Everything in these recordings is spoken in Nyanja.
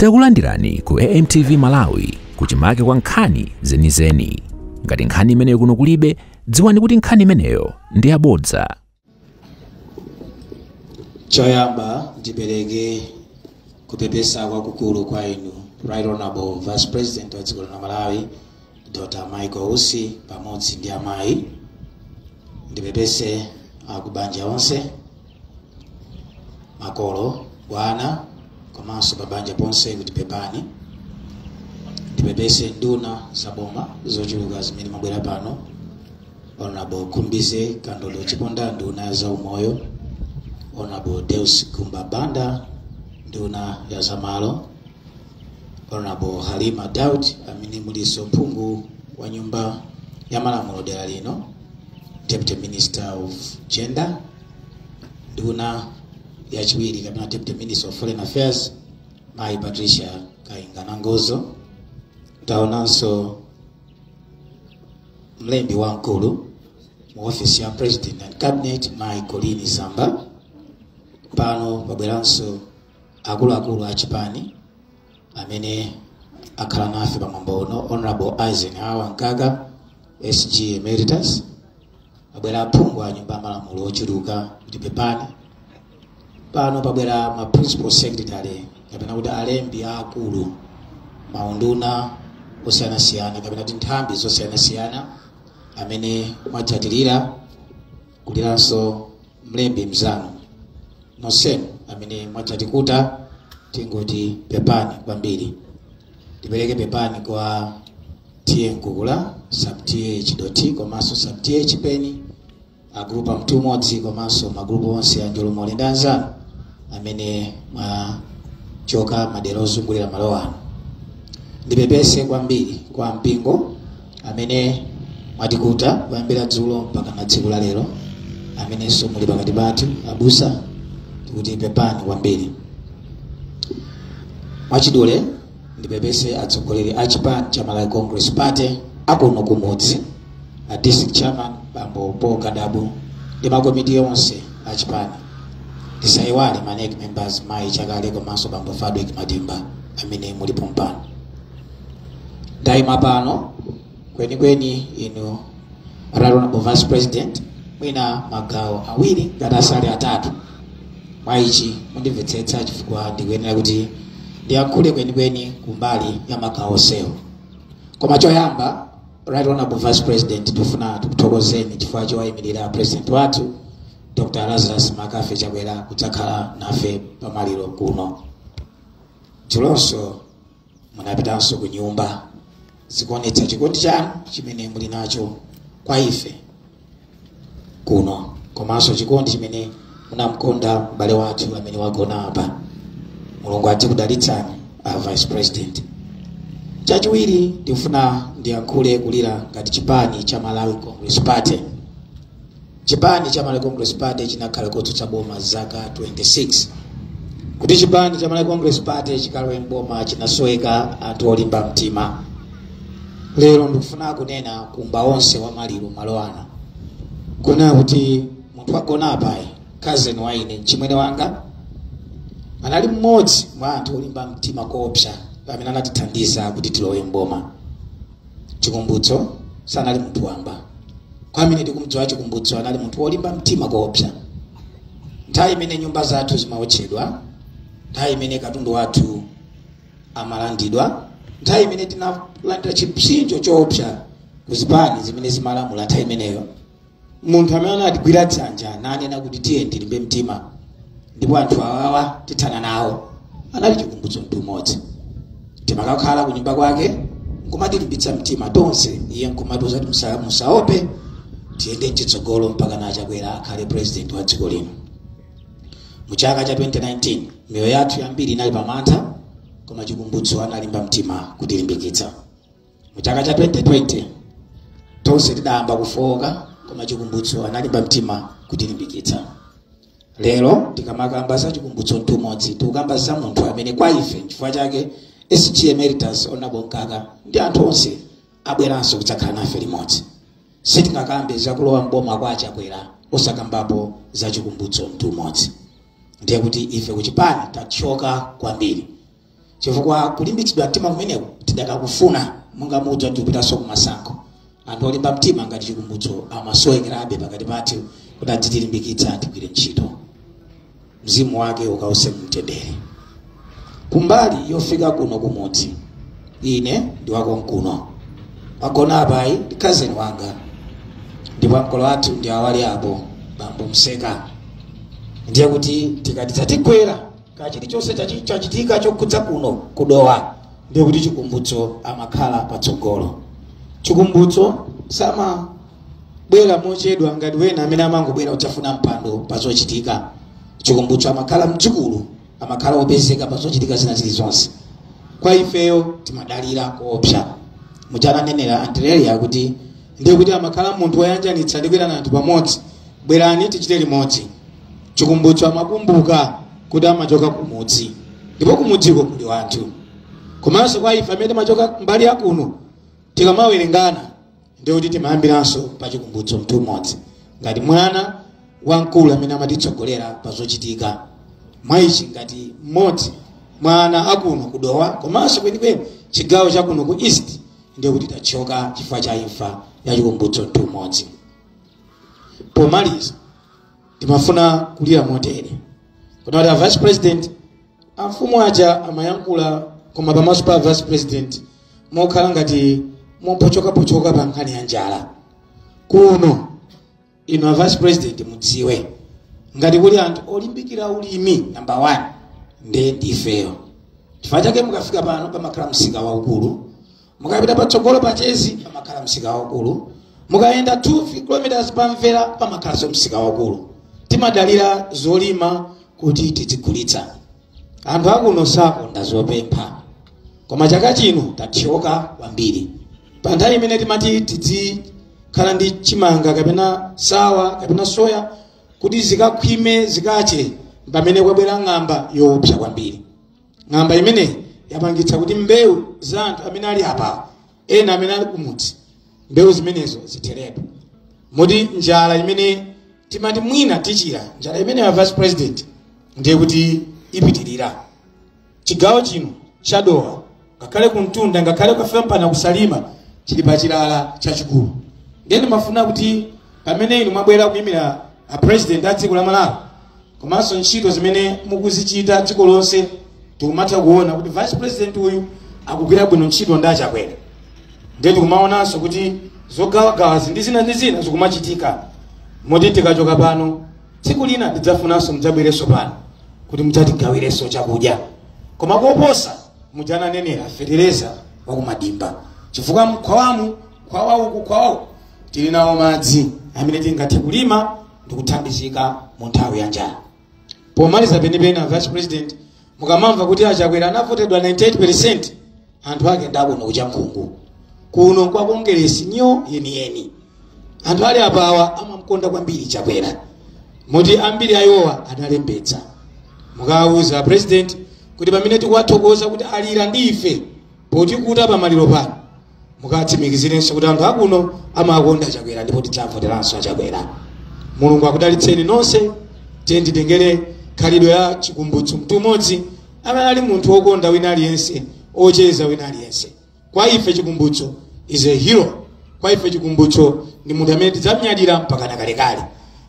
Takulandirani ku AMTV Malawi kuchimake kwa nkhani zenizeni. Ngati nkhani imeneyo kuno kulibe, dziwani kuti nkhani imeneyo ndi yabodza. choyamba ndipereke kupepesa kwakukulu kwa inu right honorable vice president wa dziko la malawi dr michael usi pamodzi ndi amayi ndipepese akubanja onse makolo ana komanso pabanja ponse kuti pepani ndipepese nduna zaboma zochuluka zimene mwabwera pano honorable khumbize kandodo chiponda nduna ya zaumoyo honorable deus gumba banda nduna ya zamalo honorable halima daud amene mulinso phungu wa nyumba ya malamulo dera lino deputy minister of gender nduna yachiwiri kapena deputy minister of foreign affairs mayi patricia kainga nangozo taonanso mlembi wamkulu mu ofesi ya president and cabinet mayi colleen zamba pano pabweranso akuluakulu a chipani amene akhala nafe pa mwambo uno honorable eisenhower mkaka sg emeritus pabwera aphungu a nyumba ya malamulo ochuluka kuti pepani pano pabwera ma principal secretary kapena kuti alembi aakulu m'maunduna osiyanasiyana kapena kuti nthambi zosiyanasiyana amene mwadzatilirira kuliranso mlembi mzanu nonsenu amene mwadzatikuta tingoti pepani kwambiri ndipereke pepani kwa t/a mkukula sub t/a chidothi komanso sub t/a chipeni agulupu amtu umodzi komanso magulupu onse a njolomole ndi anzanu amene mwachoka madera ozungulira malo ano ndipepese kwambiri kwa mpingo amene mwatikuta kuyambira dzulo mpakana tsiku la lero amenenso muli pakati pathu abusa tikuti pepani kwambiri mwachidule ndipepese atsogoleri a chipani cha malawi congress party akuno kumudzi a district chairman bambo paul kadabu ndi makomiti onse a chipani ndisayiwale ma nec members mayi chakale komanso bambo fadwick madimba amene muli pompano ndayima pano kwenikweni inu right honorable vice president mwina magawo awiri ngati asali atatu mwa ichi mundimvetsetsa chifukwa ndikuyenera kuti ndiyankhule kwenikweni kumbali ya magawo onsewo koma choyamba right honorable vice president tifuna tikuthokozeni chifukwa chowayimirira president wathu dr lazarus mccarthy chakwera kudzakhala nafe pamaliro kuno dzulonso munapitanso ku nyumba zikuonetsa chikondi chanu chimene muli nacho kwa ife kuno komanso chikondi chimene munamkonda m'bale wathu amene wagona apa mulungu adzikudalitsani a vice president chachiwiri ndikufuna ndiyankhule kulira ngati chipani cha malawi congress party chipani cha malawi congress party chinakhala kotsutsa boma zaka 26 kuti chipani cha malawi congress party chikalowe mboma chinasoweka anthu olimba mtima lero ndikufuna kunena kumba onse wa maliro malo ano kunena kuti munthu wagona apayu cousin wa ine mchimwene wanga anali mmodzi mwa anthu olimba mtima koopsa amene anatithandiza kuti tilowe mboma chikumbutso sanali munthu wamba kwa amene tikumdziwa chikumbutso anali munthu wolimba mtima koopsa nthawi imene nyumba zathu zimaotchedwa nthawi imene katundu wathu amalandidwa nthawi imene tinalandira chipsinjo choopsa ku zipani zimene zimalamula nthawi imeneyo munthu amene anatigwira dzanja nanena kuti tiye tilimbe mtima ndipo anthu awawa tithana nawo anali chikumbutso mtumodzi timakakhala ku nyumba kwake nkumatilimbitsa mtima tonse iye nkumatiuza kuti musaope tiyende mchitsogolo mpakana chakwera akhale president wa dziko lino mu chaka cha 2019 miyoyo yathu yambiri inali pamantha koma chikumbutso analimba mtima kutilimbikitsa mu chaka cha 2020 tonse tidayamba kufowoka koma chikumbutso analimba mtima kutilimbikitsa lero tikamakamba za chikumbutso mtumodzi tikukamba za munthu amene kwa ife chifukwa chake sg emeritus honorable mkaka ndi anthu onse abweranso kudzakhala nafe limodzi sitingakambe zakulowa mboma kwa achakwera osakambapo za chikumbutso mtumodzi ndiye kuti ife kuchipani tathyoka kwambiri chifukwa kulimbitsidwa mtima kumeneku tidakakufuna monga mudziwa tikupitanso kumasankho anthu olimba mtima ngati chikumbutso amasowekerabe pakati pathu kuti adzitilimbikitsa tigwire ntchito mzimu wake ukause mumtendere kumbali yofika kuno kumudzi ine ndi wa konkuno wagona apayu ndi cousin wanga ndipo makolo athu ndi awa ali apo bambo mseka ndiye kuti tikati zatigwera ka chilichonse chachi- chachitika chokhudza kuno kudowa ndiye kuti chikumbutso amakhala patsogolo chikumbutso samabwera mochedwa ngati wena amene amangobwera kudzafuna mpando pa zochitika chikumbutso amakhala mdzukulu amakhala opezeka pa zochitika zina zilizonse kwa ifeyo timadalira koopsa muja ananenera andireya kuti ndiye kuti amakhala munthu woyanjanitsa ndi kuyitana anthu pamodzi bwerani tichite limodzi chikumbutso amakumbuka kuti amachoka kumudzi ndipo kumudziko kuli wanthu komanso kwa ife amene timachoka mbali ya kuno tikamawerengana ndiye kuti timayambiranso pa chikumbutso mtumodzi ngati mwana wamkulu amene amatitsogolera pa zochitika mwa ichi ngati mmodzi mwa ana akuno kudowa komanso kwenikweni chigawo chakuno ku east ndiye kuti tathyoka chifukwa cha imfa ya chikumbutso mtumodzi pomaliza timafuna kulira motere kunena kuti a vice president amfumu aja amayankhula koma pamaso pa vice president mokhala ngati mopochokapochoka pa nkhani ya njala kuno inu a vice president mudziwe ngati kuli anthu olimbikira ulimi namba 1 nde ndifeyo chifukwa chake mukafika pano pamakhala msika waukulu mukapita patsogolo pa chezi pamakhala msika waukulu mukayenda 2 km pamvera pamakhalanso msika waukulu timadalira zolima kuti tizigulitsa anthu akuno sakonda zopempha koma chaka chino tathyoka kwambiri pa nthawi imene timati tidzikhala ndi chimanga kapena sawa kapena soya kuti zikakhwime zikache mpamene kwabwera ng'amba yoopsa kwambiri ng'amba imene yapangitsa kuti mbewu za anthu amene ali apawa ena amene ali kumudzi mbewu zimenezo zitheretu moti njala imene timati mwina tichira njala imeneyi a vice president ndiye kuti ipitirira chigawo chino chadowa ngakhale kumtunda ngakhale kukafika mpana kusalima chili pa chilala chachikulu ndiye ndimafuna kuti pamene inu mwabwera kuyimira a president a dziko la malawi komanso ntchito zimene mukuzichita dziko lonse tikumatha kuona kuti vice president uyu akugwira bwino ntchito ndi achakwera ndiye tikumaonanso kuti zogawagawazi ndi zina ndi zina zikumachitika moti tikachoka pano tsiku lina tidzafunanso mudzabwerenso pano kuti mudzatigawirenso chakudya koma koposa muja ananenera fetereza wakumadimba chifukwa mkhwawamu khwawa uku khwawa uku tili nawo madzi amene tingathe kulima ndi kuthandizika mu nthawi ya njala pomaliza penipeni a vice president mukamamva kuti achakwera anavotedwa 98 anthu ake ndi akuno ku Chankhungu kuno kwa kongeresi nyo yeniyeni anthu ali apawa amamkonda kwambiri chakwera moti ambiri a iwowa analembetsa mukawuze president kuti pamene tikuwathokoza kuti alira ndi ife potikuta pamaliro pano mukatsimikizirenso kuti anthu akuno amakonda chakwera ndipo tidzavoteranso chakwera mulungu akudalitseni nonse tiyeni titengere khalidwe la chikumbutso mtumodzi amene ali munthu wokonda wina aliyense ocheza wina aliyense kwa ife chikumbutso is a hero kwa ife chikumbutso ndi munthu amene tidzamnyadira mpaka nakalekale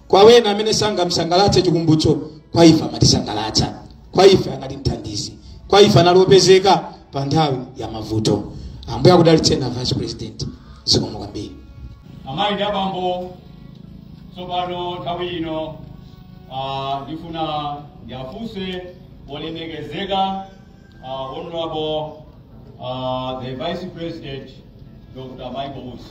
kwa wena amene sanamsangalatse chikumbutso kwa ife amatisangalatsa kwa ife anali mthandizi kwa ife anali opezeka pa nthawi ya mavuto ambuye akudalitseni a vice president zikomo kwambiri amayi ndi abambo tsopano nthawi ino ah, ndifuna ndiafunse olemekezeka uh, honorable uh, the vice president dr michael Usi.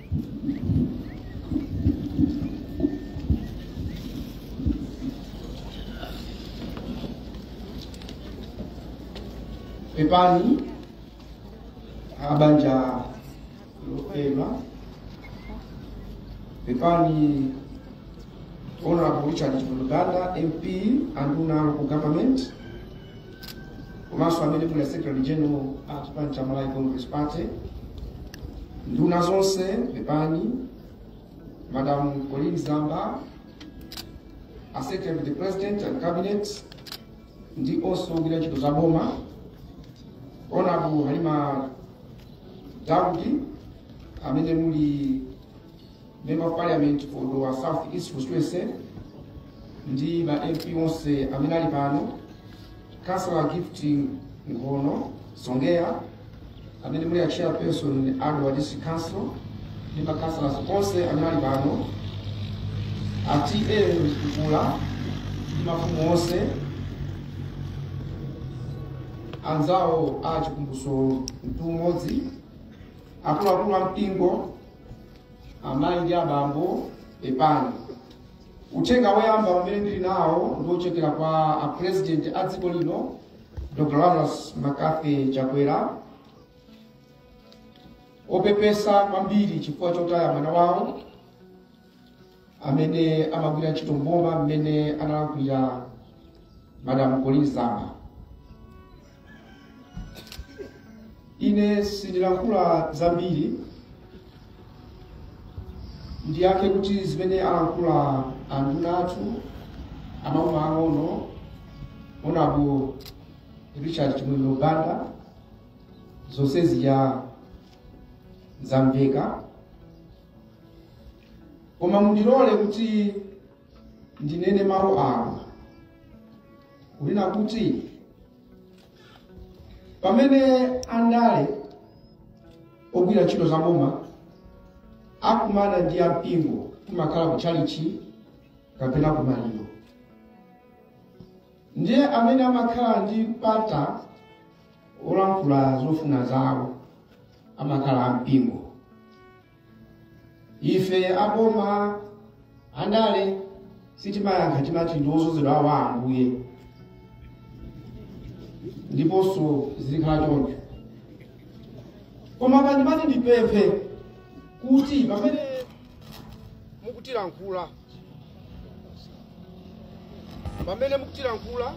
pepani abanja lopema pepani honorable richard chimuluganda mp anduna local government komanso amene muli secretary general a chipani cha malawi congress party nduna zonse pepani madam colleen zamba a secretary to the president and cabinet ndi onse ogwira ntchito za boma honorable halima daudi amene muli Member of Parliament for Dowa South East Constituency ndi ma MP onse amene ali pano, Councillor Gift Ngono Songea amene muli a chairperson a Dowa District Council ndi ma councillors onse amene ali pano, a TA Mkukula ndi mafumu onse anzawo chikumbutso a mtumodzi akuluakulu a mpingo amayi ndi abambo pepani uthenga woyamba umene ndili nawo ndi wochokera kwa apresident a dziko lino dr lazarus mccarthy chakwera opepesa kwambiri chifukwa chotaya mwana wawo amene amagwira ntchito mboma mmene analankhulira madam colleen zamba ine sindilankhula zambiri ndiyankhe kuti zimene alankhula anduna athu a maboma ang'ono honorable richard chimwendo banda zonse zija zamveka koma mundilole kuti ndinene mawu awa kunena kuti pamene andale ogwira ntchito za boma akumana ndi ampingo kumakhala ku tchalichi kapena ku maliro ndiye amene amakhala ndi mpata olankhula zofuna zawo amakhala ampingo ife aboma andale sitimayankha timati ndi odzozedwa awa a ambuye ndiponso zizikhala choncho koma pandimati ndipemphe kuti pamene mukutilankhula pamene mukutilankhula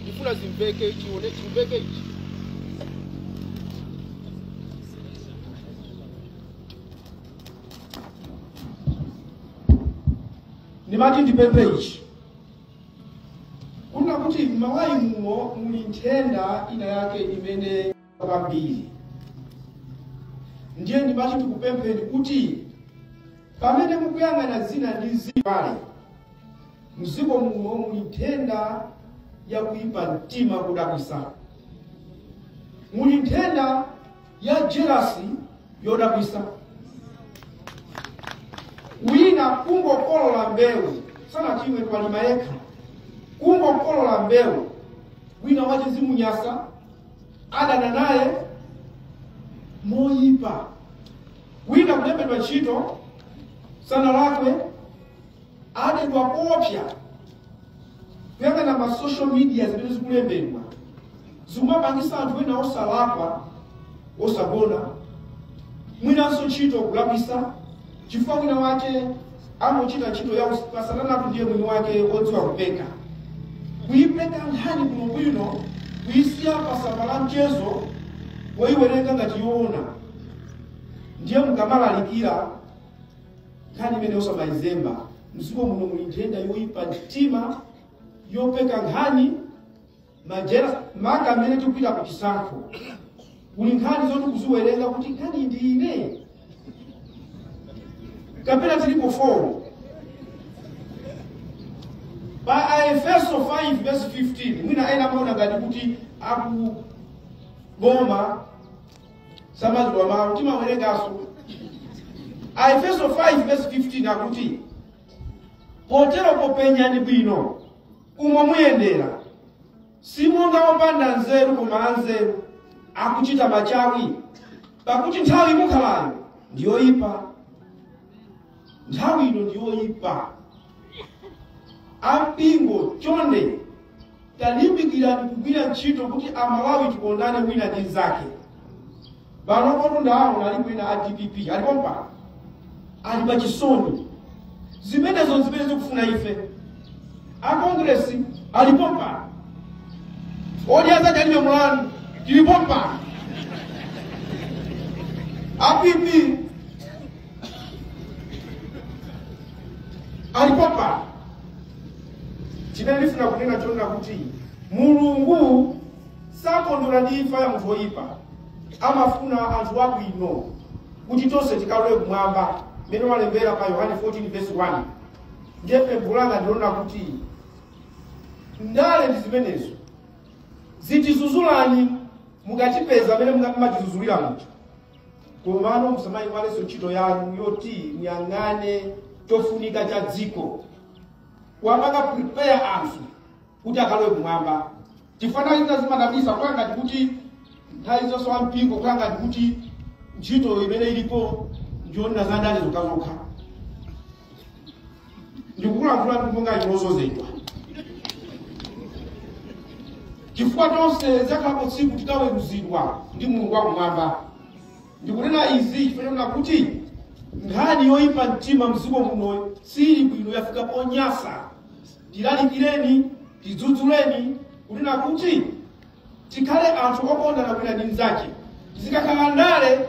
ndifuna zimveke ichi ndimati ndipemphe ichi kunena kuti m'malawi muno muli nthenda ina yake imene kwambiri ndiye ndimati tikupempheni kuti pamene mukuyang'ana zina ndi zina mdziko muno muli nthenda ya kuipa mtima kodabwitsa muli nthenda ya jelasi yodabwitsa wina kungokolola mbewu sanachimwe walima yekha kungokolola mbewu wina wache zimunyasa adana naye moyipa wina kulembedwa ntchito sanalakwe adedwa koopsa kuyang'ana ma social media zimene zikulembedwa zikumapangisa munthu wina osalakwa osagona mwinanso ntchito kulakwisa chifukwa wina wake amuchita ntchito ya usiku asanamatu ndiye mwini wake odziwa kupeka kuyipeka nkhani bwinobwino kuyisiya pasamba la mchezo woyiwerenga ngati yoona ndiye mukamalalikira nkhani imeneyo osamayizemba mdziko muno muli nthenda yoyipa mtima yopeka nkhani majera maka mmene tikupita ku chisankho kuli nkhani zoti kuziwerenga kuti kani ndi ine kapena tilipo 4 pa aefeso 5 verse 15 mwina ena amaona ngati kuti aku boma samadziwa mawu timawerenganso aefeso 5 verse 15 akuti potero popenyani bwino umo muyendera simonga opanda nzeru koma anzeru akuchita machawi pakuti nthawi mukhalayo ndiyoyipa nthawi ino ndiyoyipa ampingo chonde talimbikirani kugwira ntchito kuti amalawi tikondane wina ndi mnzake pano motu ndaona alipo ena a dpp alipo mpano ali pa chisoni zimenezo zimene zikufuna ife a kongresi alipo mpano oti azati alibe mulani tilipo mpano a pp alipo mpano chimene ndifuna kunena chonena kuti mulungu sakondwera ndi imfa ya munthu woyipa amafuna anthu abwino kuti tonse tikalowe kumwamba mmene walembera pa yohane 14 verse 1 ndiye pempho langa ndilonena kuti ndale ndi zimenezo zitizuzulani mukachipeza amene mumatizuzulira munthu komano musamayiwalenso ntchito yanu yoti muyang'ane chofunika cha dziko kuwapanga prepare anthu kuti akalowe kumwamba chifukwa nthawi zina zimadabwisa kukhala ngati kuti nthawi zonse wa mpingo kukhala ngati kuti ntchito imene ilipo ndiyoona za ndale zokhazokha ndikukulankhula ndi monga chilozozedwa chifukwa tonse lidzakhalapo tsiku tikaweruzidwa ndi mulungu wakumwamba ndikunena izi chifukwa chonena kuti nkhani yoyipa mtima mdziko muno sili bwino yafika ponyasa tilalikireni tidzudzuleni kunena kuti tikhale anthu okondana wina ndi mnzake zikakhala ndale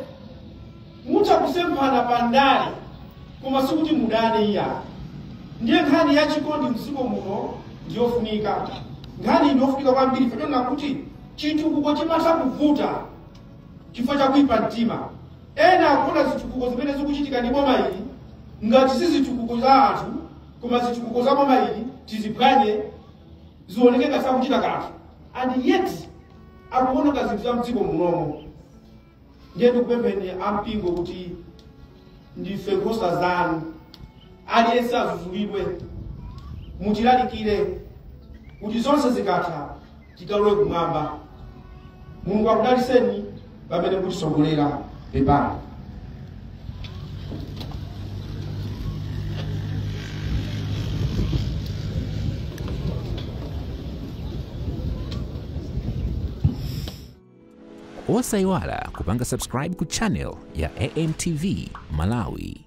mutha kusemphana pa ndale koma sikuti mudane iya ndiye nkhani ya chikondi mdziko muno ndiyofunika nkhani iyi ndiyofunika kwambiri chifukwa chonena kuti chitukuko chimatha kuvuta chifukwa cha kuipa mtima ena akuona zitukuko zimene zikuchitika ndi boma ili ngati si zitukuko za anthu koma zitukuko za boma ili tiziphwanye zioneke ngati sakuchita kanthu and yet akuononga zinthu za mdziko munomo ndiye ndikupempheni ampingo kuti ndife nkhosa zanu aliyense azuzulidwe mutilalikire kuti zonse zikatha tikalowe kumwamba mulungu akudaliseni pamene mukutisogolera pepani osayiwala kupanga subscribe ku channel ya amtv malawi